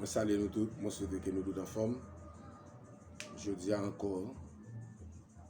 Mwen salye nou tout, mwen swete ke nou tout anfòm. Jodi a ankò,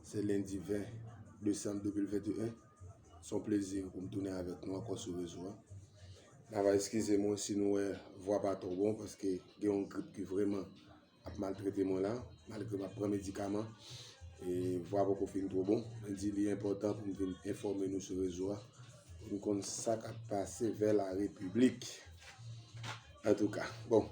se lendi 20 desanm 2021, se yon plezi pou m tounen avèk nou ankò sou rezo a. N ava eskize mwen si nou wè vwa pa twò bon paske gen yon grip ki vreman. Ap maltrete mwen la malgre map pran medikaman e vwa poko fin two bon. Mwen di li enpòtan pou m vin enfòme nou sou rezo a pou nou konn sa kap pase vè la repiblik. Antouka, bon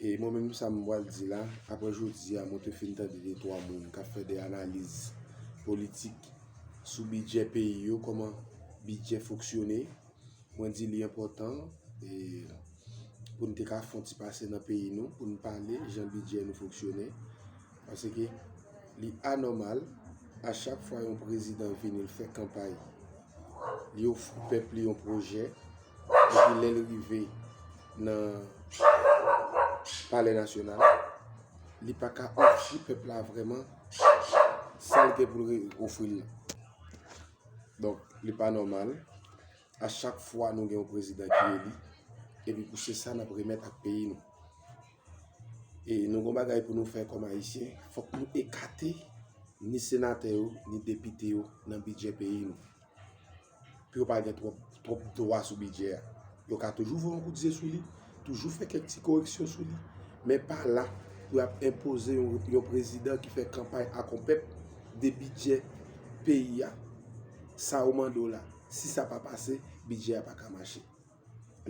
e mwen menm sa m pwal di la aprè jodi a mwen te fin tande de twa moun kap fè de analiz politik sou bidjè peyi yo, kòman bidjè foksyone. Mwen di li enpòtan e pou n te ka fon ti pase nan peyi nou pou n pale jan bidjè nou foksyone. Paske li anòmal a chak fwa yon prezidan vini l fè kanpay, li ofri pèp li yon pwojè, epi lè l rive nan palè nasyonal, li pa ka ofri pèp la vrèman sa l gen pou l ofri l la. Donk, li pa nòmal, a chak fwa nou gen yon prezidan ki eli, epi pou se sa n ap remèt ak peyi nou. E nou gen yon bagay pou nou fè kòm Ayisyen, fòk nou ekate ni senatè yo, ni depite yo nan bidjè peyi nou, pou yo pa gen twòp. Twòp dwa sou bidjè a. Yo ka toujou voye yon kout zye sou li, toujou fè kèk ti koreksyon sou li, men pa la pou y ap enpoze yon prezidan ki fè kanpay ak yon pèp de bidjè peyi a. Sa yo mande w la, si sa pa pase, bidjè a pa ka mache.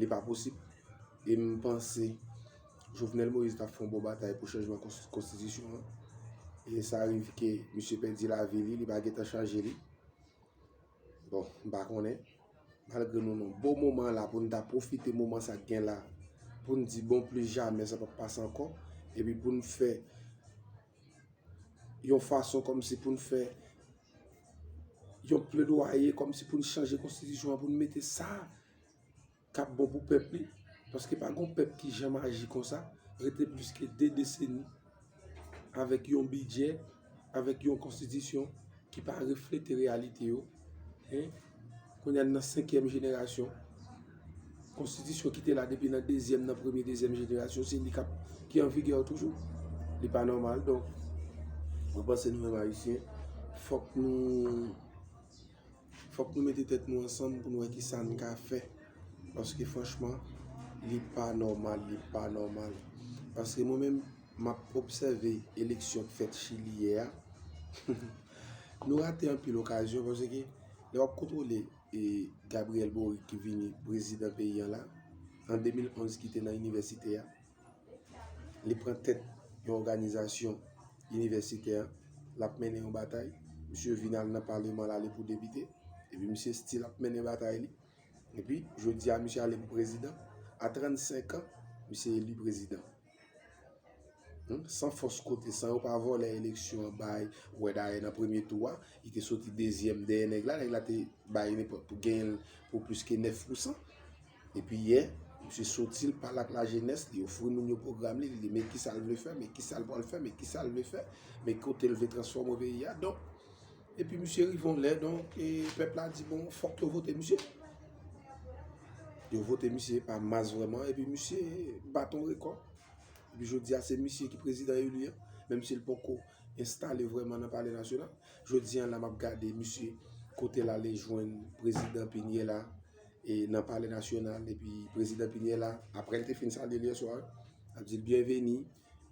Li pa posib. E m panse Jovenel Moïse t ap fè yon bon batay pou chanjman konstitisyon an. E sa rive ke misye pèdi lavi li, li pa gen tan chanje li. Bon, m pa konnen. Malgre nou nan bon moman la pou n ta pwofite moman sa k gen la pou n di bon plis jamè sa pap pase ankò epi pou n fè yon fason kòmsi pou n fè yon pledwaye kòmsi pou n chanje konstitisyon an pou n mete sa kap bon pou pèp li, paske pa gon pèp ki janm aji konsa, rete plis ke 2 deseni avèk yon bidjè, avèk yon konstitisyon ki pa reflete reyalite yo, kounye a n nan 5 èm jenerasyon, konstitisyon ki te la depi nan 2 zièm nan premye 2 zièm jenerasyon se li kap ki an vigè toujou, li pa nòmal donk mwen panse nou menm ayisyen fòk nou. Fòk nou mete tèt nou ansanm pou nou wè kisa n ka fè. Paske franchman, li pa nòmal, li pa nòmal. Paske mwen menm, m ap obsève eleksyon k fèt Chili yè a. Nou rate anpil okazyon paske lè w ap kontwole Gabriel Boric ki vini prezidan peyi an la, an 2011 ki te nan inivèsite a. li pran tèt yon òganizasyon inivèsitè, l ap mennen yon batay, misye vin al nan paleman l ale pou depite, epi misye stil ap mennen batay li, epi jodi a misye ale pou prezidan, a 35 an, misye eli prezidan. San fòs kote, san yo pa vòlè eleksyon an bay, ou wè dayè nan premye tou a, li te soti dezyèm dèyè nèg la, nèg la te bay li pou genyen l pou plis ke 9 pousan. Epi yè, misye soti l pale ak lajenès, li ofri moun yo pwogram li, li di men kisa l vle fè, men kisa l pral fè, men kisa l vle fè, men kote l vle transfòme peyi a. Donk, epi misye rive yon lè, donk, e pèp la di bon, fòk yo vote misye. Yo vote misye pa mas vrèman, epi misye bat yon rekò. Epi jodi a se misye ki prezidan eli an, menm si l poko enstale vrèman nan palè nasyonal. Jodi a la m ap gade misye kote l ale jwenn prezidan pi n ye la. e nan palè nasyonal epi prezidan Piniella aprè l te fin salye l yè swa ap di l byenveni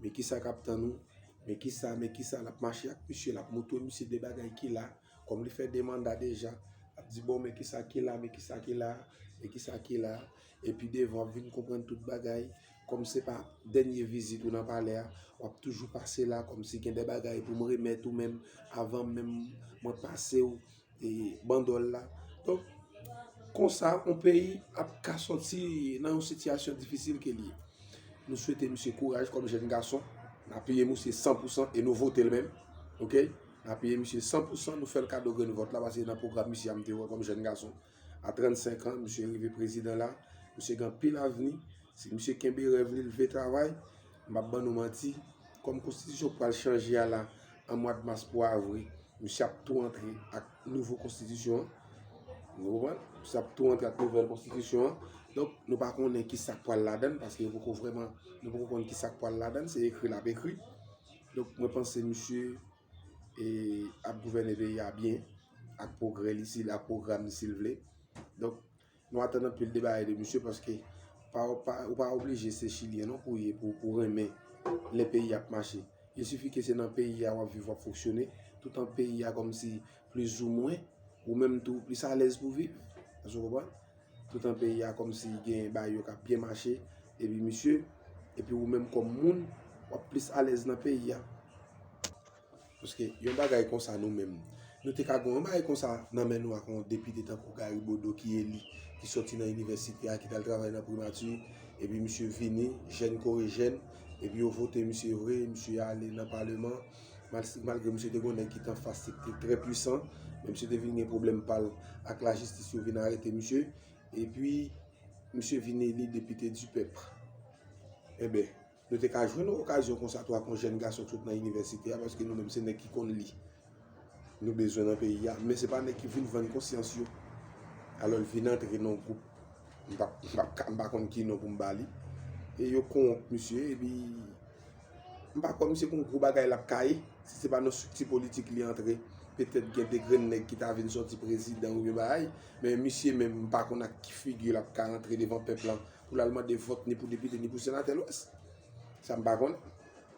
men ki sa k ap tann ou men ki sa men ki sa l ap mache ak misye l ap montre misye de bagay ki la kòm li fè 2 manda deja ap di bon men ki sa ki la men ki sa ki la men ki sa ki la e pi devan w ap vin konprann tout bagay kòm se pa dènye vizit ou nan palè a w ap toujou pase la kòm si gen de bagay pou m remèt ou menm avan menm mwen pase w e bandòl la. Donk, konsa, yon peyi ap ka soti nan yon sitiyasyon difisil ke li. Nou swete misye kouraj kòm jèn gason, n apiye misye san pou san, e nou vote l menm, ok, n apiye misye san pou san, nou fè l kado grenn vòt la, paske se nan pwogram misye a m te wè kòm jèn gason. A 35 an, misye rive prezidan la, misye gen anpil avni, si misye kenbe rèv li, l vle travay. Map ban nou manti, kòm konstitisyon pral chanje a la an mwad mas pou avri, misye ap tou antre ak nouvo konstitisyon an, nou konprann, misye ap tou antre ak nouvèl konstitisyon an, donk nou pa konnen ki sak pral ladann, paske yo poko vrèman, nou poko konnen ki sak pral ladann, se ekri lap ekri, donk mwen panse misye e ap gouvène peyi a byen, ak pwogrè li, ak pwogram li sil vle, donk. Nou atann anpil de bagay de misye paske ou pa oblije se chilyen non pou ye pou ou renmen lè peyi ap mache. Il sifi ke se nan peyi a wap viv wap foksyone toutan peyi a kòmsi plis ou mwen ou menm tou plis alèz pou viv. Èske w konprann? Toutan peyi a kòmsi gen bagay yo kap byen mache epi misye epi ou menm kòm moun wap plis alèz nan peyi a. Paske yon bagay konsa nou menm, nou te ka gen yon bagay konsa nan men nou ak yon depite tankou Gary Bodeau ki eli, ki soti nan inivèsite a, ki t al travay nan primati, epi misye vini, jèn kore jèn, epi yo vote misye vre, misye ale nan paleman, malgre misye te gen yon nèg ki t anfas li ki te trè pwisan, men misye te vin gen pwoblèm pa l ak lajistis, yo vin arete misye, epi misye vin eli depite dipèp. Enben. Nou te ka jwenn okazyon konsa tou ak yon jèn gason ki sot nan inivèsite a, paske nou menm se nèg ki konn li nou bezwen nan peyi a, men se pa nèg ki vin vann konsyans yo, alò l vin antre nan yon gwoup, m pa, m pa ka, m pa konn ki non pou m ba li, e yo kowonp misye, epi m pa kwè misye gon gwo bagay l ap ka ye, si se pa nan strikti politik li antre, petèt gen de grenn nèg ki ta vin sòti prezidan oubyen bagay, men misye menm m pa konn ak ki figi l ap ka antre devan pèp lan. pou lal mande vòt ni pou depite ni pou senatè lwès. Sa m pa konnen.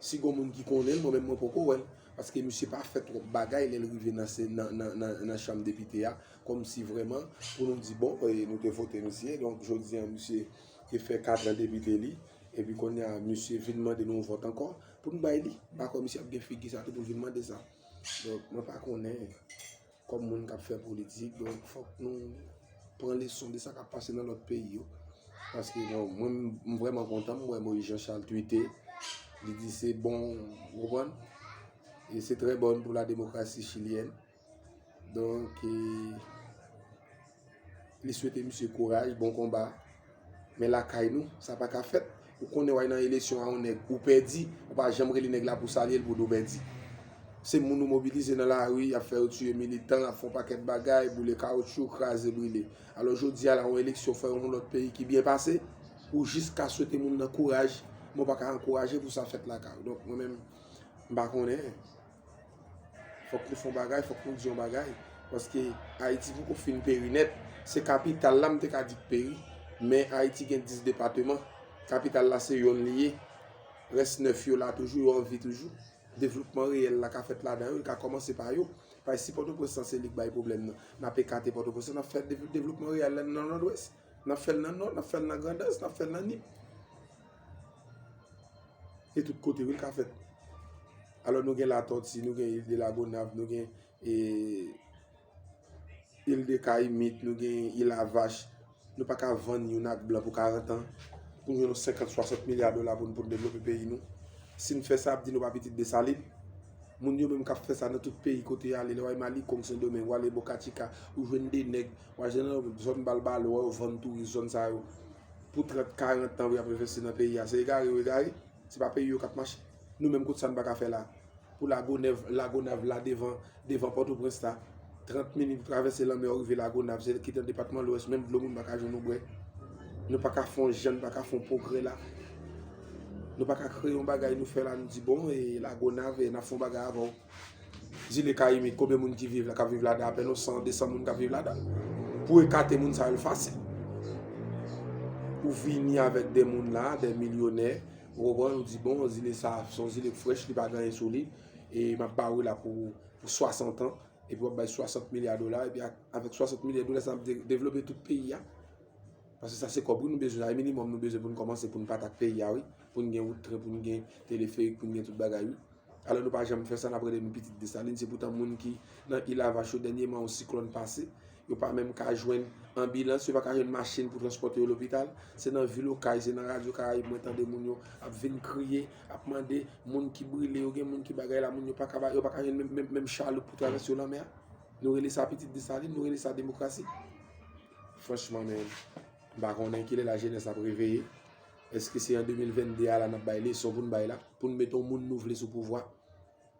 Si gon moun ki konnen l, mwen menm mwen poko wè l. Paske misye pa fè twòp bagay lè l rive nan chanm depite a kòm si vrèman pou nou di bon nou te vote misye donk jodi an misye te fè katran depite li epi kounye a misye vin mande nou yon vòt ankò pou n bay li. M pa kwè misye ap gen figi sa tou pou l vin mande sa. Donk mwen pa konnen. Kòm moun k ap fè politik, donk fòk nou pran leson de sa k ap pase nan lòt peyi yo. Paske bon, mwen m vrèman kontan, m wè Moïse Jean Charles twite, li di se bon, ou konprann? E se trè bon pou la demokrasi chilyèn. Donk e. Li swete misye kouraj, bon konba. Men lakay nou, sa pa ka fèt. Ou konnen w al nan elesyon a yon nèg, ou pèdi, ou pa janm rele nèg la pou salye l pou di w pèdi. Se moun ou mobilize nan lari, y ap fè yo tiye militan, y ap fè yon pakèt bagay, boule kawotchou, kraze brile. Alò jodi a la, yon eleksyon fè yon lòt peyi ki byen pase, ou jis ka swete moun nan kouraj, men w pa ka ankouraje pou sa fèt lakay ou. Donk mwen menm, m pa konnen. Fòk nou fè yon bagay, fòk nou di yon bagay, paske Ayiti poko fin peri nèt. Se kapital la m te ka di k peri, men Ayiti gen 10 depateman, kapital la se yonn li ye, rès 9 yo la toujou, yo anvi toujou. Devlopman reyèl la ka fèt ladan yo, l ka kòmanse pa yo. Paske si Pòtoprens lan se li k bay pwoblèm nan, n ap ekate Pòtoprens lan, n ap fè devlopman reyèl la nan Nòdwès, n ap fè l nan Nò, n ap fè l nan Grandans, n ap fè l nan Nip. Se tout kote wi l ka fèt. Alò nou gen Latòti, nou gen Île de la Gonâve, nou gen Île de Cayimite, nou gen Île à Vache, nou pa ka vann youn ak blan pou 40 an, pou nou gen yon 50, 60 milya dola pou nou devlope peyi nou. Si nou fè sa, y ap di nou pa pitit Desalin. Moun yo menm k ap fè sa nan tout peyi kote y ale, lè w ale Mali, Kong, Sendomeng, w ale Bokachika, ou jwenn 2 nèg, w al jwenn nan zòn Balbalo, wè yo vann touris zòn sa yo pou 30, 40 an pou y ap envesti nan peyi a. Se egare yo egare. Se pa peyi yo kap mache. Nou menm kot sa n paka fè la. Pou lagonev lagonav la devan devan potoprens la 30 minit ou travèse lanmè ou rive lagonav se ki nan depatman lwès menm dlo moun paka jwenn ou bwè. Nou paka fon jan nou paka fon pwogrè la. Nou paka kreye yon bagay nou fè la nou di bon e lagonav e nap fon bagay avèw. Zile Kayimit, konbyen moun ki viv la, kap viv la dan? Apèn yon 100, 200 moun kap viv la dan. Pou ekate moun sa yo l fasil. Ou vini avèk de moun la, de milyonè, ou konprann, ou di bon, zile sa, son zile k frèch, li pa gen anyen sou li, e map ba ou la pou 60 an, epi wap bay 60 milya dola, epi avèk 60 milya dola sa, nap devlope tout peyi a. Paske sa se kòb wi nou bezwen, sa se minimòm nou bezwen pou n kòmanse, pou n pa atak peyi a wi, pou n gen wout, pou n gen teleferik, pou n gen tout bagay wi. Alò nou pa janm fè sa, n ap rele nou pitit Desalin. Se poutan moun ki nan Île à Vache yo dènyeman yon siklòn pase, yo pa menm ka jwenn anbilans, yo pa ka jwenn machin pou transpòte yo lopital. Se nan vil Okay, se nan radyo Karayib mwen tande moun yo ap vin kriye, ap mande moun ki brile yo, gen moun ki bagay la, moun yo pa ka ba yo pa ka jwenn menm menm chaloup pou travèse yo lanmè a. Nou rele sa pitit Desalin, nou rele sa demokrasi. Franchman men, m pa konnen kilè lajenès ap reveye. Eske se an 2022 a la nap bay leson poun bay la, poun met on moun nou vle sou pouvwa,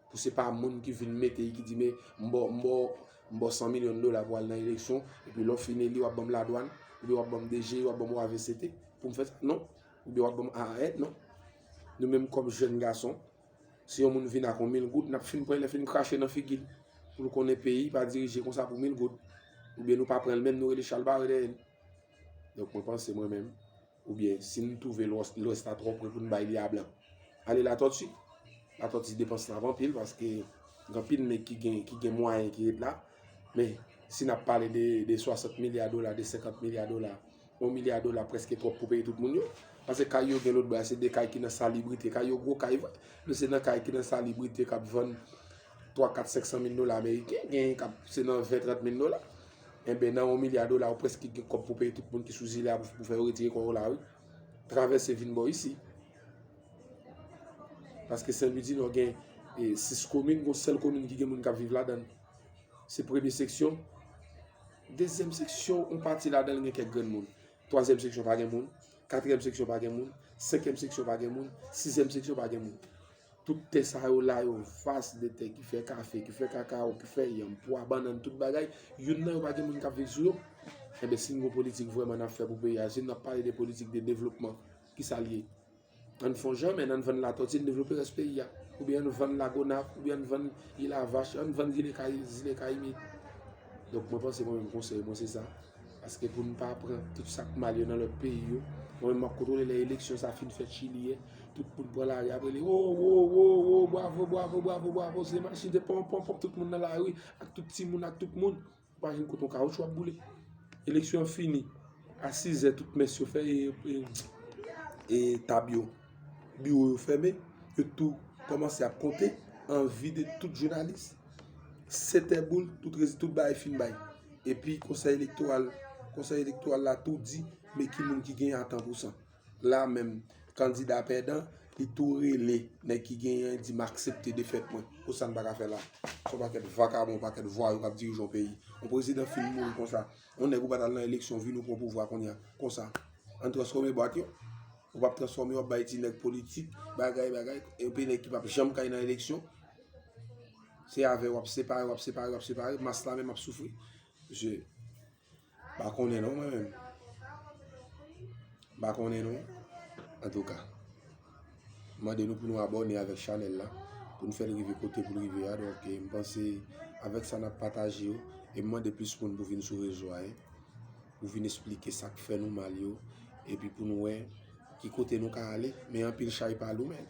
pou se pa moun ki vin mete ki di me m baw m baw m baw 100 milyon dola pou al nan eleksyon epi lè w fin eli wap banm ladwann, oubyen wap banm DG, wap banm wavct poum fè sa non, oubyen wap banm AAR non. Nou menm kòm jèn gason, si on moun vin ak on mil goud nap fin pran lè fin krache nan figi l pou l konnen peyi pa dirije konsa pou mil goud, oubyen nou pa pran l menm nou rele chalbare dèyè l. Donk mwen panse mwen menm. Oubyen si n twouve Lwès la twò pre pou n bay li a blan. Ale Latòti. Latòti depans la ap anpil paske gen anpil nèg ki gen mwayen ki ret la. Men, si n ap pale de 60 milya dola, de 50 milya dola, 1 milya dola prèske twòp pou peye tout moun yo. Pase kay yo gen lotbò a se de kay ki nan salibrite. Kay yo gwo kay vre. Men se nan kay ki nan salibrite k ap vann 3, 4, 500 mil dola ameriken. Gen k ap se nan 20, 30 mil dola. Enben nan yon milya dola ou preske gen kòb pou peye tout moun ki sou zile a pou fè yo retire kò yo la wi. Travèse vin bò isi. Paske Sen Lwi Dinò gen 6 komin, gon sèl komin ki gen moun kap viv ladan. Se premye seksyon. Dezyèm seksyon, yon pati ladan gen kèk grenn moun. Twazyèm seksyon pa gen moun. Katriyèm seksyon pa gen moun. Senkyèm seksyon pa gen moun. Sizyèm seksyon pa gen moun. Tout tè sa yo la yo vas de tè ki fè kafe, ki fè kakawo, ki fè yanm, pwa, bannann, tout bagay. Youn nan yo pa gen moun k ap viv sou yo. Enben, si n gen yon politik vrèman n ap fè pou peyi a, si n ap pale de politik de devlopman, ki sa l ye? Ann fon janmen ann vann latòti n devlope rès peyi a oubyen ann vann lagonav oubyen ann vann ilavach ann vann zile kayimit donk mwen panse mwen menm konsèy mwen se sa paske pou n pa pran tout sa k mal yo nan lòt peyi yo mwen menm m ap kontwole lè eleksyon sa fin fèt chili e tout moun pran lari ap rele wo wo wo wo bwavo bwavo bwavo bwavo se machin se ponpon tout moun nan lari ak tout timoun ak tout moun Ou pa jwenn koton kawoutchou ap boule. Eleksyon an fini a sizè tout mès yo fè e tab yo, biwo yo fèmen, yo tou kòmanse ap konte an vide tout jounalis. Setè boul tout resi tout bagay fin bay. Epi konsèy elektoral la tou di men ki moun ki gen atan pou sa. La menm, kandida pèdan, li tou rele nèg ki genyen an, di m aksepte defèt mwen. Pou sa n pa ka fè la? Se yon pakèt vakabon, yon pakèt vwayou k ap dirije yon peyi. Yon prezidan fin mouri konsa. Yon nèg ou pa t al nan eleksyon, vini ou pran pouvwa kounye a, konsa. An n transfòme bwat yo. Ou pa p transfòme, w ap bay ti nèg politik, bagay, bagay. Yon peyi nèg ki pa p janm ka al nan eleksyon. Se avè w ap separe, w ap separe, w ap separe. Mas la menm ap soufri. Mesye! Pa konnen non mwen menm. Pa konnen non. An tou ka. Mande nou pou nou abone avèk chanèl la. Pou nou fèl rive kote pou rive a. Donk e mpanse avèk sa nap pataje yo. E mande plis moun pou vin sou rezo a. Pou vin esplike sak fè nou mal yo. E pi pou nou wè ki kote nou ka ale. Men anpil chay pa lou menn.